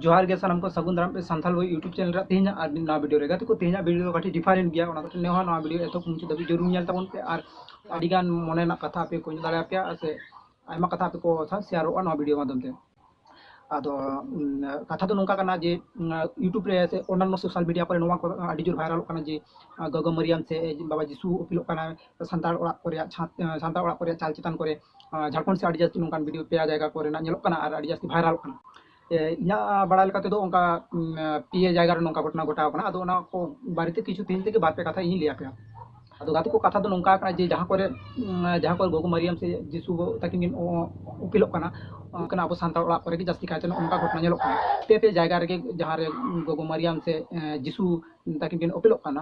ᱡᱚᱦᱟᱨ ᱜᱮ ᱥᱟᱱᱟᱢ ᱠᱚ ᱥᱟᱹᱜᱩᱱ ᱫᱟᱨᱟᱢ ᱯᱮ ᱥᱟᱱᱛᱟᱲ ᱵᱳᱭ ᱤᱭᱩᱴᱩᱵᱽ ᱪᱮᱱᱮᱞ ᱨᱮ ᱛᱮᱦᱮᱧᱟᱜ ᱟᱨ ᱢᱤᱫ ᱱᱟᱣᱟ ᱵᱷᱤᱰᱤᱭᱳ ᱨᱮ ᱜᱟᱛᱮ ᱠᱚ ᱛᱮᱦᱮᱧᱟᱜ ᱵᱷᱤᱰᱤᱭᱳ ᱫᱚ ᱠᱟᱹᱴᱤᱡ ᱰᱤᱯᱷᱟᱨᱮᱱᱴ ᱜᱮᱭᱟ ᱚᱱᱟ ᱠᱟᱹᱴᱤᱡ ᱱᱮᱦᱚᱸ ᱱᱚᱣᱟ ᱵᱷᱤᱰᱤᱭᱳ ᱮᱛᱚᱦᱚᱵ ᱢᱩᱪᱟᱹᱫ ᱫᱷᱟᱹᱵᱤᱡ ᱡᱟᱹᱨᱩᱲ ᱧᱮᱞ ᱛᱟᱵᱚᱱ ᱯᱮ ᱟᱨ ᱟᱹᱰᱤᱜᱟᱱ ᱢᱚᱱᱮ ᱨᱮᱱᱟᱜ ᱠᱟᱛᱷᱟ ᱟᱯᱮ ᱠᱚ ᱧᱮᱞ ᱫᱟᱲᱮᱭᱟᱯᱮᱭᱟ ᱟᱨ ᱥᱮ ᱟᱭᱢᱟ ᱠᱟᱛᱷᱟ ᱟᱯᱮ ᱠᱚ ᱥᱟᱶ ᱥᱮᱭᱟᱨᱚᱜᱼᱟ ᱱᱚᱣᱟ ᱵᱷᱤᱰᱤᱭᱳ ᱢᱟᱫᱽᱫᱷᱚᱢ ᱛᱮ ᱟᱫᱚ ᱠᱟᱛᱷᱟ ᱫᱚ ᱱᱚᱝᱠᱟ ᱠᱟᱱᱟ ᱡᱮ ᱤᱭᱩᱴᱩᱵᱽ ᱨᱮ ᱥᱮ ᱚᱱᱟᱱᱱᱚ ᱥᱳᱥᱟᱞ ᱢᱤᱰᱤᱭᱟ ᱠᱚᱨᱮ ᱱᱚᱣᱟ ᱠᱚ ᱟᱹᱰᱤ ᱡᱳᱨ ᱵᱷᱟᱭᱨᱟᱞᱚᱜ ᱠᱟᱱᱟ ᱡᱮ ᱜᱚᱜᱚ ᱢᱟᱹᱨᱤᱭᱟᱢ ᱥᱮ ᱵᱟᱵᱟ ᱡᱤᱥᱩ ᱚᱯᱤᱞᱚᱜ ᱠᱟᱱᱟᱭ ᱥᱟᱱᱛᱟᱲ ᱚᱲᱟᱜ ᱠᱚ ᱨᱮᱭᱟᱜ ᱪᱷᱟᱸᱫᱽ ᱥᱟᱱᱛᱟᱲ ᱚᱲᱟᱜ ᱠᱚ ᱨᱮᱭᱟᱜ ᱪᱟᱞ ᱪᱮᱛᱟᱱ ᱠᱚᱨᱮ ᱡᱷᱟᱲᱠᱷᱚᱸᱰ ᱥᱮ ᱟᱹᱰᱤ ᱡᱟᱹᱥᱛᱤ ᱱᱚᱝᱠᱟᱱ ᱵᱷᱤᱰᱤᱭᱳ ᱯᱮᱭᱟ ᱡᱟᱭᱜᱟ ᱠᱚᱨᱮᱱᱟᱜ ᱧᱮᱞᱚᱜ ᱠᱟᱱᱟ ᱟᱨ ᱟᱹᱰᱤ ᱡᱟᱹᱥᱛᱤ ᱵᱷᱟᱭᱨᱟᱞᱚᱜ ᱠᱟᱱᱟ ᱤᱧᱟᱹᱜ ᱵᱟᱲᱟᱭ ᱞᱮᱠᱟ ᱛᱮᱫᱚ ᱚᱱᱠᱟ ᱯᱮᱭᱟ ᱡᱟᱭᱜᱟ ᱨᱮ ᱱᱚᱝᱠᱟ ᱜᱷᱚᱴᱚᱱᱟ ᱜᱷᱚᱴᱟᱣ ᱠᱟᱱᱟ ᱟᱫᱚ ᱚᱱᱟ ᱠᱚ ᱵᱟᱨᱮᱛᱮ ᱠᱤᱪᱷᱩ ᱛᱮᱦᱮᱧ ᱛᱮᱜᱮ ᱵᱟᱨ ᱯᱮ ᱠᱟᱛᱷᱟ ᱤᱧ ᱞᱟᱹᱭ ᱟᱯᱮᱭᱟ ᱟᱫᱚ ᱜᱟᱛᱮ ᱠᱚ ᱠᱟᱛᱷᱟ ᱫᱚ ᱱᱚᱝᱠᱟ ᱠᱟᱱᱟ ᱡᱮ ᱡᱟᱦᱟᱸ ᱠᱚᱨᱮ ᱡᱟᱦᱟᱸ ᱠᱚᱨᱮ ᱜᱚᱜᱚ ᱢᱟᱨᱤᱭᱟᱢ ᱥᱮ ᱡᱤᱥᱩ ᱛᱟᱹᱠᱤᱱ ᱠᱤᱱ ᱩᱯᱮᱞᱚᱜ ᱠᱟᱱᱟ ᱚᱱᱠᱟᱱᱟᱜ ᱟᱵᱚ ᱥᱟᱱᱛᱟᱲ ᱚᱲᱟᱜ ᱠᱚᱨᱮ ᱜᱮ ᱡᱟᱹᱥᱛᱤ ᱠᱟᱭᱛᱮ ᱱᱚᱝᱠᱟ ᱜᱷᱚᱴᱚᱱᱟ ᱧᱮᱞᱚᱜ ᱠᱟᱱᱟ ᱯᱮ ᱯᱮ ᱡᱟᱭᱜᱟ ᱨᱮᱜᱮ ᱡᱟᱦᱟᱸ ᱨᱮ ᱜᱚᱜᱚ ᱢᱟᱨᱤᱭᱟᱢ ᱥᱮ ᱡᱤᱥᱩ ᱛᱟᱹᱠᱤᱱ ᱠᱤᱱ ᱩᱯᱮᱞᱚᱜ ᱠᱟᱱᱟ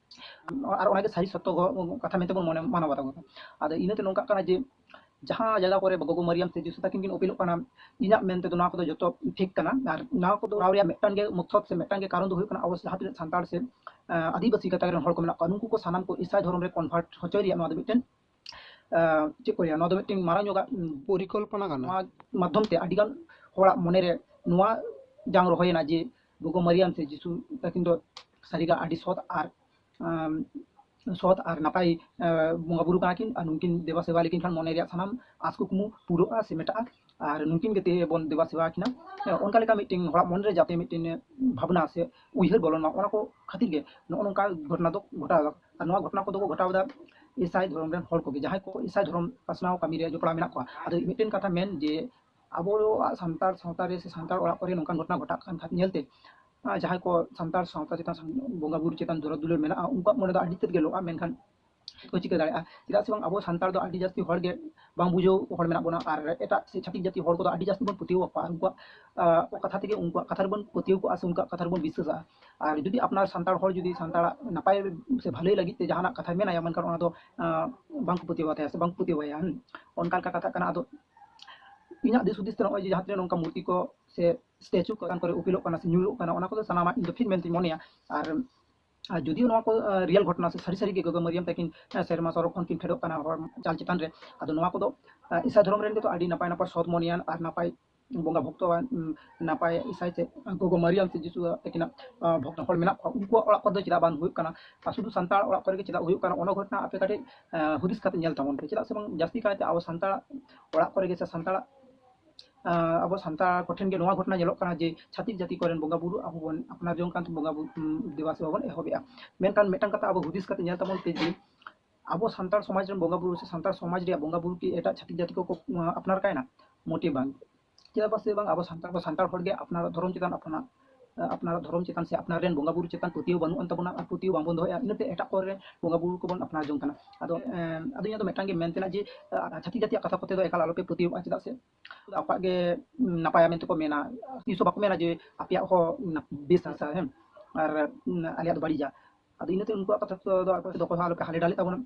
ᱟᱨ ᱚᱱᱟᱜᱮ ᱥᱟᱹᱨᱤ ᱥᱚᱛᱛᱚ ᱠᱟᱛᱷᱟ ᱢᱮᱱᱛᱮ ᱵᱚᱱ ᱢᱚᱱᱮ ᱢᱟᱱᱟᱣ ᱵᱟᱛᱟᱣ ᱠᱟᱫᱟ ᱟᱫᱚ ᱤᱱᱟᱹᱛᱮ ᱱᱚᱝᱠᱟᱜ ᱠᱟᱱᱟ ᱡᱮ ᱡᱟᱦᱟᱸ ᱡᱟᱭᱜᱟ ᱠᱚᱨᱮ ᱜᱚᱜᱚ ᱢᱟᱨᱤᱭᱟᱢ ᱥᱮ ᱡᱤᱥᱩ ᱛᱟᱹᱠᱤᱱ ᱠᱤᱱ ᱚᱯᱮᱞᱚᱜ ᱠᱟᱱᱟ ᱤᱧᱟᱹᱜ ᱢᱮᱱ ᱛᱮᱫᱚ ᱱᱚᱣᱟ ᱠᱚᱫᱚ ᱡᱚᱛᱚ ᱯᱷᱮᱠ ᱠᱟᱱᱟ ᱟᱨ ᱱᱚᱣᱟ ᱠᱚᱫᱚ ᱠᱚᱨᱟᱣ ᱨᱮᱭᱟᱜ ᱢᱤᱫᱴᱟᱝ ᱜᱮ ᱢᱚᱠᱥᱚᱫ ᱥᱮ ᱢᱤᱫᱴᱟᱝ ᱜᱮ ᱠᱟᱨᱚᱱ ᱫᱚ ᱦᱩᱭᱩᱜ ᱠᱟᱱᱟ ᱟᱵᱚ ᱡᱟᱦᱟᱸ ᱛᱤᱱᱟᱹᱜ ᱥᱟᱱᱛᱟᱲ ᱥᱮ ᱟᱹᱫᱤᱵᱟᱹᱥᱤ ᱜᱟᱛᱟᱠ ᱨᱮᱱ ᱦᱚᱲ ᱠᱚ ᱢᱮᱱᱟᱜ ᱠᱚᱣᱟ ᱱᱩᱠᱩ ᱠᱚ ᱥᱟᱱᱟᱢ ᱠᱚ ᱤᱥᱟᱭ ᱫᱷᱚᱨᱚᱢ ᱨᱮ ᱠᱚᱱᱵᱷᱟᱨᱴ ᱦᱚᱪᱚᱭ ᱨᱮᱭᱟᱜ ᱱᱚᱣᱟ ᱫᱚ ᱢᱤᱫᱴᱮᱱ ᱪᱮᱫ ᱠᱚ ᱞᱟᱹᱭᱟ ᱱᱚᱣᱟ ᱫᱚ ᱢᱤᱫᱴᱮᱱ ᱢᱟᱨᱟᱝ ᱧᱚᱜᱟᱜ ᱯᱚᱨᱤᱠᱚᱞᱯᱚᱱᱟ ᱠᱟᱱᱟ ᱱᱚᱣᱟ ᱢᱟᱫᱽᱫᱷᱚᱢ ᱛᱮ ᱟᱹᱰᱤᱜᱟᱱ ᱦᱚᱲᱟᱜ ᱢᱚᱱᱮᱨᱮ ᱱᱚᱣᱟ ᱡᱟᱝ ᱨᱚᱦᱚᱭᱮᱱᱟ ᱡᱮ ᱜᱚᱜᱚ ᱢᱟᱨᱤᱭᱟᱢ ᱥᱮ ᱡᱤᱥᱩ ᱛᱟᱹᱠᱤᱱ ᱫᱚ ᱥᱟᱹᱨᱤᱜᱮ ᱟᱹᱰᱤ ᱥᱚᱛ ᱟᱨ ᱥᱚᱛ ᱟᱨ ᱱᱟᱯᱟᱭ ᱵᱚᱸᱜᱟ ᱵᱩᱨᱩ ᱠᱟᱱᱟ ᱠᱤᱱ ᱟᱨ ᱱᱩᱠᱤᱱ ᱫᱮᱵᱟ ᱥᱮᱵᱟ ᱞᱮᱠᱤᱱ ᱠᱷᱟᱱ ᱢᱚᱱᱮ ᱨᱮᱭᱟᱜ ᱥᱟᱱᱟᱢ ᱟᱥ ᱠᱩᱠᱢᱩ ᱯᱩᱨᱟᱹᱜᱼᱟ ᱥᱮ ᱢᱮᱴᱟᱜᱼᱟ ᱟᱨ ᱱᱩᱠᱤᱱ ᱜᱮ ᱛᱮᱦᱮᱧ ᱵᱚᱱ ᱫᱮᱵᱟ ᱥᱮᱵᱟ ᱠᱤᱱᱟ ᱚᱱᱠᱟ ᱞᱮᱠᱟ ᱢᱤᱫᱴᱮᱱ ᱦᱚᱲᱟᱜ ᱢᱚᱱᱮᱨᱮ ᱡᱟᱛᱮ ᱢᱤᱫᱴᱮᱱ ᱵᱷᱟᱵᱽᱱᱟ ᱥᱮ ᱩᱭᱦᱟᱹᱨ ᱵᱚᱞᱚᱱ ᱢᱟ ᱚᱱᱟ ᱠᱚ ᱠᱷᱟᱹᱛᱤᱨ ᱜᱮ ᱱᱚᱜᱼᱚ ᱱᱚᱝᱠᱟ ᱜᱷᱚᱴᱚᱱᱟ ᱫᱚ ᱜᱷᱚᱴᱟᱣ ᱫᱟᱠᱚ ᱟᱨ ᱱᱚᱣᱟ ᱜᱷᱚᱴᱚᱱᱟ ᱠᱚᱫᱚ ᱠᱚ ᱜᱷᱚᱴᱟᱣ ᱮᱫᱟ ᱤᱥᱟᱭ ᱫᱷᱚᱨᱚᱢ ᱨᱮᱱ ᱦᱚᱲ ᱠᱚᱜᱮ ᱡᱟᱦᱟᱸᱭ ᱠᱚ ᱤᱥᱟᱭ ᱫᱷᱚᱨᱚᱢ ᱯᱟᱥᱱᱟᱣ ᱠᱟᱹᱢᱤ ᱨᱮ ᱡᱚᱯᱲᱟᱣ ᱢᱮᱱᱟᱜ ᱠᱚᱣᱟ ᱟᱫᱚ ᱢᱤᱫᱴᱮᱱ ᱠᱟᱛᱷᱟ ᱢᱮᱱ ᱡᱮ ᱟᱵᱚᱣᱟᱜ ᱥᱟᱱᱛᱟᱲ ᱥᱟᱶᱛᱟ ᱨᱮ ᱥᱮ ᱥᱟᱱᱛᱟᱲ ᱚᱲᱟᱜ ᱠᱚᱨᱮ ᱱᱚᱝᱠᱟᱱ ᱜᱷᱚᱴᱚᱱᱟ ᱜᱷᱚᱴᱟᱜ ᱠᱟᱱ ᱠᱷᱟᱱ ᱧᱮᱞᱛᱮ ᱡᱟᱦᱟᱸᱭ ᱠᱚ ᱥᱟᱱᱛᱟᱲ ᱥᱟᱶᱛᱟ ᱪᱮᱛᱟᱱ ᱵᱚᱸᱜᱟ ᱵᱩᱨᱩ ᱪᱮᱛᱟᱱ ᱫᱚᱨᱚᱫ ᱫᱩᱞᱟᱹᱲ ᱢᱮᱱᱟᱜᱼᱟ ᱩᱱᱠᱩᱣᱟᱜ ᱢᱚᱱᱮ ᱫᱚ ᱟᱹᱰᱤ ᱛᱮᱫ ᱜᱮ ᱞᱚᱜᱼᱟ ᱢᱮᱱᱠᱷᱟᱱ ᱠᱚ ᱪᱤᱠᱟᱹ ᱫᱟᱲᱮᱭᱟᱜᱼᱟ ᱪᱮᱫᱟᱜ ᱥᱮ ᱵᱟᱝ ᱟᱵᱚ ᱥᱟᱱᱛᱟᱲ ᱫᱚ ᱟᱹᱰᱤ ᱡᱟᱹᱥᱛᱤ ᱦᱚᱲ ᱜᱮ ᱵᱟᱝ ᱵᱩᱡᱷᱟᱹᱣ ᱦᱚᱲ ᱢᱮᱱᱟᱜ ᱵᱚᱱᱟ ᱟᱨ ᱮᱴᱟᱜ ᱥᱮ ᱪᱷᱟᱹᱛᱤᱠ ᱡᱟᱹᱛᱤ ᱦᱚᱲ ᱠᱚᱫᱚ ᱟᱹᱰᱤ ᱡᱟᱹᱥᱛᱤ ᱵᱚᱱ ᱯᱟᱹᱛᱭᱟᱹᱣ ᱟᱠᱚᱣᱟ ᱩᱱᱠᱩᱣᱟᱜ ᱠᱟᱛᱷᱟ ᱛᱮᱜᱮ ᱩᱱᱠᱩᱣᱟᱜ ᱠᱟᱛᱷᱟ ᱨᱮᱵᱚᱱ ᱯᱟᱹᱛᱭᱟᱹᱣ ᱠᱚᱜᱼᱟ ᱥᱮ ᱩᱱᱠᱩᱣᱟᱜ ᱠᱟᱛᱷᱟ ᱨᱮᱵᱚᱱ ᱵᱤᱥᱥᱟᱹᱥᱟᱜᱼᱟ ᱟᱨ ᱡᱩᱫᱤ ᱟᱯᱱᱟᱨ ᱥᱟᱱᱛᱟᱲ ᱦᱚᱲ ᱡᱩᱫᱤ ᱥᱟᱱᱛᱟᱲᱟᱜ ᱱᱟᱯᱟᱭ ᱥᱮ ᱵᱷᱟᱹᱞᱟᱹᱭ ᱞᱟᱹᱜᱤᱫ ᱛᱮ ᱡᱟᱦᱟᱱᱟᱜ ᱠᱟᱛᱷᱟᱭ ᱢᱮᱱᱟᱭᱟ ᱢᱮᱱᱠᱷᱟᱱ ᱚᱱᱟ ᱫᱚ ᱵᱟᱝ ᱠᱚ ᱯᱟᱹᱛᱭᱟᱹᱣ ᱟᱛᱟᱭᱟ ᱥᱮ ᱵᱟᱝ ᱠᱚ ᱯᱟᱹᱛᱭᱟᱹᱣᱟᱭᱟ ᱚᱱᱠᱟ ᱞᱮᱠᱟ ᱠᱟᱛᱷᱟᱜ ᱠᱟᱱᱟ ᱟᱫᱚ ᱤᱧᱟᱹᱜ ᱫᱤᱥ ᱦᱩᱫᱤᱥ ᱛᱮ ᱱᱚᱜᱼᱚᱭ ᱡᱮ ᱡᱟᱦᱟᱸ ᱛᱤᱱᱟᱹᱜ ᱱᱚᱝᱠᱟ ᱢᱩᱨᱛᱤ ᱠᱚ ᱥᱮ ᱥᱴᱮᱪᱩ ᱠᱚ ᱪᱮᱛᱟᱱ ᱠᱚᱨᱮ ᱩᱯᱮᱞᱚᱜ ᱠᱟᱱᱟ ᱥᱮ ᱧᱩᱨᱩᱜ ᱠᱟᱱᱟ ᱚᱱᱟ ᱠᱚᱫᱚ ᱥᱟᱱᱟᱢᱟᱜ ᱤᱧ ᱫᱚ ᱴᱷᱤᱠ ᱢᱮᱱᱛᱮᱧ ᱢᱚᱱᱮᱭᱟ ᱟᱨ ᱟᱨ ᱡᱩᱫᱤ ᱱᱚᱣᱟ ᱠᱚ ᱨᱤᱭᱮᱞ ᱜᱷᱚᱴᱚᱱᱟ ᱥᱮ ᱥᱟᱹᱨᱤ ᱥᱟᱹᱨᱤ ᱜᱮ ᱜᱚᱜᱚ ᱢᱟᱹᱨᱤᱭᱟᱢ ᱛᱟᱹᱠᱤᱱ ᱥᱮᱨᱢᱟ ᱥᱚᱨᱚᱜ ᱠᱷᱚᱱ ᱠᱤᱱ ᱯᱷᱮᱰᱚᱜ ᱠᱟᱱᱟ ᱦᱚᱲ ᱪᱟᱞ ᱪᱮᱛᱟᱱ ᱨᱮ ᱟᱫᱚ ᱱᱚᱣᱟ ᱠᱚᱫᱚ ᱤᱥᱟᱹ ᱫᱷᱚᱨᱚᱢ ᱨᱮᱱ ᱜᱮᱛᱚ ᱟᱹᱰᱤ ᱱᱟᱯᱟᱭ ᱱᱟᱯᱟᱭ ᱥᱚᱛ ᱢᱚᱱᱮᱭᱟᱱ ᱟᱨ ᱱᱟᱯᱟᱭ ᱵᱚᱸᱜᱟ ᱵᱷᱚᱠᱛᱚ ᱱᱟᱯᱟᱭ ᱤᱥᱟᱭ ᱛᱮ ᱜᱚᱜᱚ ᱢᱟᱨᱤᱭᱟᱢ ᱥᱮ ᱡᱤᱥᱩ ᱛᱟᱹᱠᱤᱱᱟᱜ ᱵᱷᱚᱠᱛᱚ ᱦᱚᱲ ᱢᱮᱱᱟᱜ ᱠᱚᱣᱟ ᱩᱱᱠᱩᱣᱟᱜ ᱚᱲᱟᱜ ᱠᱚᱨᱮ ᱫᱚ ᱪᱮᱫᱟᱜ ᱵᱟᱝ ᱦᱩᱭᱩᱜ ᱠᱟᱱᱟ ᱟᱨ ᱥᱩᱫᱷᱩ ᱥᱟᱱᱛᱟᱲ ᱚᱲᱟᱜ ᱠᱚᱨᱮ ᱜᱮ ᱪᱮᱫᱟᱜ ᱦᱩᱭᱩᱜ ᱠᱟᱱᱟ ᱚᱱᱟ ᱜᱷᱚᱴᱚᱱᱟ ᱟᱯᱮ ᱠᱟᱹᱴᱤᱡ ᱦᱩᱫᱤᱥ ᱠᱟᱛᱮ ᱧᱮᱞ ᱛᱟᱵᱚᱱ ᱯᱮ ᱪᱮᱫᱟᱜ ᱥᱮ ᱵᱟᱝ ᱡᱟᱹᱥᱛᱤ ᱠᱟᱭᱛᱮ ᱟᱵᱚ ᱥᱟᱱᱛᱟᱲ ᱚᱲᱟᱜ ᱠᱚᱨᱮ ᱜᱮ ᱥᱮ ᱥᱟᱱᱛᱟᱲ ᱟᱵᱚ ᱥᱟᱱᱛᱟᱲ ᱠᱚᱴᱷᱮᱱ ᱜᱮ ᱱᱚᱣᱟ ᱜᱷᱚᱴᱚᱱᱟ ᱧᱮᱞᱚᱜ ᱠᱟᱱᱟ ᱡᱮ ᱪᱷᱟᱹᱛᱤᱠ ᱡᱟᱹᱛᱤ ᱠᱚᱨᱮᱱ ᱵᱚᱸᱜᱟ ᱵᱩᱨᱩ ᱟᱵᱚ ᱵᱚᱱ ᱟᱯᱱᱟᱨ ᱡᱚᱝ ᱠᱟᱱ ᱵᱚᱸᱜᱟ ᱵᱩᱨᱩ ᱫᱮᱵᱟ ᱥᱮᱵᱟ ᱵᱚᱱ ᱮᱦᱚᱵᱮᱜᱼᱟ ᱢᱮᱱᱠᱷᱟᱱ ᱢᱤᱫᱴᱟᱝ ᱠᱟᱛᱷᱟ ᱟᱵᱚ ᱦᱩᱫᱤᱥ ᱠᱟᱛᱮ ᱧᱮᱞ ᱛᱟᱵᱚᱱ ᱯᱮ ᱡᱮ ᱟᱵᱚ ᱥᱟᱱᱛᱟᱲ ᱥᱚᱢᱟᱡᱽ ᱨᱮᱱ ᱵᱚᱸᱜᱟ ᱵᱩᱨᱩ ᱥᱮ ᱥᱟᱱᱛᱟᱲ ᱥᱚᱢᱟᱡᱽ ᱨᱮᱭᱟᱜ ᱵᱚᱸᱜᱟ ᱵᱩᱨᱩ ᱠᱤ ᱮᱴᱟᱜ ᱪᱷᱟᱹᱛᱤᱠ ᱡᱟᱹᱛᱤ ᱠᱚᱠᱚ ᱟᱯᱱᱟᱨ ᱠᱟᱭᱱᱟ ᱢᱚᱴᱮ ᱵᱟᱝ ᱪᱮᱫᱟᱜ ᱯᱟᱥᱮ ᱵᱟᱝ ᱟᱵᱚ ᱥᱟᱱᱛᱟᱲ ᱠᱚ ᱥᱟᱱᱛᱟᱲ ᱦᱚᱲᱜᱮ ᱟᱯᱱᱟᱨᱟᱜ ᱫᱷᱚᱨᱚᱢ ᱪᱮᱛᱟᱱ ᱟᱯᱱᱟᱨ ᱟᱯᱱᱟᱨᱟᱜ ᱫᱷᱚᱨᱚᱢ ᱪᱮᱛᱟᱱ ᱥᱮ ᱟᱯᱱᱟᱨ ᱨᱮᱱ ᱵᱚᱸᱜᱟ ᱵᱩᱨᱩ ᱪᱮᱛᱟᱱ ᱯᱟᱹᱛᱭᱟᱹᱣ ᱵᱟᱹᱱᱩᱜ ᱟᱱ ᱛᱟᱵᱚᱱᱟ ᱟᱨ ᱯᱟᱹᱛᱭᱟᱹᱣ ᱵᱟᱝᱵᱚᱱ ᱫᱚᱦᱚᱭᱟ ᱤᱱᱟᱹᱛᱮ ᱮᱴᱟᱜ ᱠᱚᱨᱮ ᱵᱚᱸᱜᱟ ᱵᱩᱨᱩ ᱠᱚᱵᱚᱱ ᱟᱯᱱᱟᱨ ᱡᱚᱝ ᱠᱟᱱᱟ ᱟᱫᱚ ᱟᱫᱚ ᱤᱧᱟᱹᱜ ᱫᱚ ᱢᱤᱫᱴᱟᱝ ᱜᱮ ᱢᱮᱱ ᱛᱮᱱᱟᱜ ᱡᱮ ᱪᱷᱟᱹᱛᱤᱠ ᱡᱟᱹᱛᱤᱭᱟᱜ ᱠᱟᱛᱷᱟ ᱠᱚᱛᱮ ᱫᱚ ᱮᱠᱟᱞ ᱟᱞᱚᱯᱮ ᱯᱟᱹᱛᱭᱟᱹᱣᱟᱜᱼᱟ ᱪᱮᱫᱟᱜ ᱥᱮ ᱟᱠᱚᱣᱟᱜ ᱜᱮ ᱱᱟᱯᱟᱭᱟ ᱢᱮᱱᱛᱮ ᱠᱚ ᱢᱮᱱᱟ ᱛᱤᱥ ᱦᱚᱸ ᱵᱟᱠᱚ ᱢᱮᱱᱟ ᱡᱮ ᱟᱯᱮᱭᱟᱜ ᱦᱚᱸ ᱵᱮᱥ ᱦᱟᱥᱟ ᱦᱮᱸ ᱟᱨ ᱟᱞᱮᱭᱟᱜ ᱫᱚ ᱵᱟᱹᱲᱤᱡᱟ ᱟᱫᱚ ᱤᱱᱟᱹᱛᱮ ᱩᱱᱠᱩᱣᱟᱜ ᱠᱟᱛᱷᱟ ᱫᱚ ᱟᱯᱮ ᱫᱚ ᱚᱠᱚᱭ ᱦᱚᱸ ᱟᱞᱚᱯᱮ ᱦᱟᱞᱮ ᱰᱟᱞᱮᱜ ᱛᱟᱵᱚᱱᱟ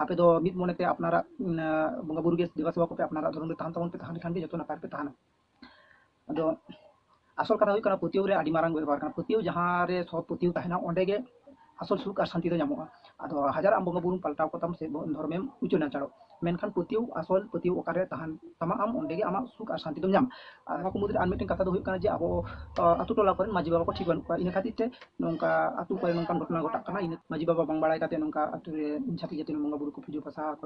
ᱟᱯᱮ ᱫᱚ ᱢᱤᱫ ᱢᱚᱱᱮᱛᱮ ᱟᱯᱱᱟᱨᱟᱜ ᱵᱚᱸᱜᱟ ᱵᱩᱨᱩ ᱜᱮ ᱫᱮᱵᱟ ᱥᱮᱵᱟ ᱠᱚᱯᱮ ᱟᱯᱱᱟᱨᱟᱜ ᱫᱷᱚᱨᱚᱢ ᱨᱮ ᱛᱟᱦᱮᱱ ᱛᱟᱵᱚᱱ ᱯᱮ ᱛᱟᱦᱮᱸ ᱞᱮᱠᱷᱟᱱ ᱜᱮ ᱡᱚᱛᱚ ᱱᱟᱯᱟᱭ ᱯᱮ ᱛᱟᱦᱮᱱᱟ ᱟᱫᱚ ᱟᱥᱚᱞ ᱠᱟᱛᱷᱟ ᱦᱩᱭᱩᱜ ᱠᱟᱱᱟ ᱯᱟᱹᱛᱭᱟᱹᱣ ᱨᱮ ᱟᱹᱰᱤ ᱢᱟᱨᱟᱝ ᱵᱮᱵᱚᱦᱟᱨ ᱠᱟᱱᱟ ᱯᱟᱹᱛᱭᱟᱹᱣ ᱡᱟᱦᱟᱸ ᱨᱮ ᱥᱚᱛ ᱯᱟᱹᱛᱭᱟᱹᱣ ᱛᱟᱦᱮᱱᱟ ᱚᱸᱰᱮ ᱜᱮ ᱟᱥᱚᱞ ᱥᱩᱠ ᱟᱨ ᱥᱟᱱᱛᱤ ᱫᱚ ᱧᱟᱢᱚᱜᱼᱟ ᱟᱫᱚ ᱦᱟᱡᱟᱨ ᱟᱢ ᱵᱚᱸᱜᱟ ᱵᱩᱨᱩᱢ ᱯᱟᱞᱴᱟᱣ ᱠᱚᱛᱟᱢ ᱥᱮ ᱫᱷᱚᱨᱢᱮᱢ ᱩᱪᱟᱹᱲ ᱱᱟᱪᱟᱲᱚᱜ ᱢᱮᱱᱠᱷᱟᱱ ᱯᱟᱹᱛᱭᱟᱹᱣ ᱟᱥᱚᱞ ᱯᱟᱹᱛᱭᱟᱹᱣ ᱚᱠᱟᱨᱮ ᱛᱟᱦᱮᱱ ᱛᱟᱢᱟ ᱟᱢ ᱚᱸᱰᱮ ᱜᱮ ᱟᱢᱟᱜ ᱥᱩᱠ ᱟᱨ ᱥᱟᱱᱛᱤ ᱫᱚᱢ ᱧᱟᱢᱟ ᱟᱨ ᱱᱚᱣᱟ ᱠᱚ ᱢᱩᱫᱽᱨᱮ ᱟᱨ ᱢᱤᱫᱴᱮᱱ ᱠᱟᱛᱷᱟ ᱫᱚ ᱦᱩᱭᱩᱜ ᱠᱟᱱᱟ ᱡᱮ ᱟᱵᱚ ᱟᱛᱳ ᱴᱚᱞᱟ ᱠᱚᱨᱮᱱ ᱢᱟᱹᱡᱷᱤ ᱵᱟᱵᱟ ᱠᱚ ᱴᱷᱤᱠ ᱵᱟᱹᱱᱩᱜ ᱠᱚᱣᱟ ᱤᱱᱟᱹ ᱠᱷᱟᱹᱛᱤᱨ ᱛᱮ ᱱᱚᱝᱠᱟ ᱟᱛᱳ ᱠᱚᱨᱮ ᱱᱚᱝᱠᱟᱱ ᱜᱷᱚᱴᱚᱱᱟ ᱜᱷᱚᱴᱟᱜ ᱠᱟᱱᱟ ᱤᱱᱟᱹ ᱢᱟᱹᱡᱷᱤ ᱵᱟᱵᱟ ᱵᱟᱝ ᱵᱟᱲᱟᱭ ᱠᱟᱛᱮ ᱱᱚᱝᱠᱟ ᱟᱛᱳ ᱨᱮ ᱪᱷᱟᱹᱛᱤᱠ ᱡᱟᱹᱛᱤ ᱨᱮᱱ ᱵᱚᱸᱜᱟ ᱵᱩᱨᱩ ᱠᱚ ᱯᱩᱡᱟᱹ ᱯᱟᱥᱟ ᱠᱚ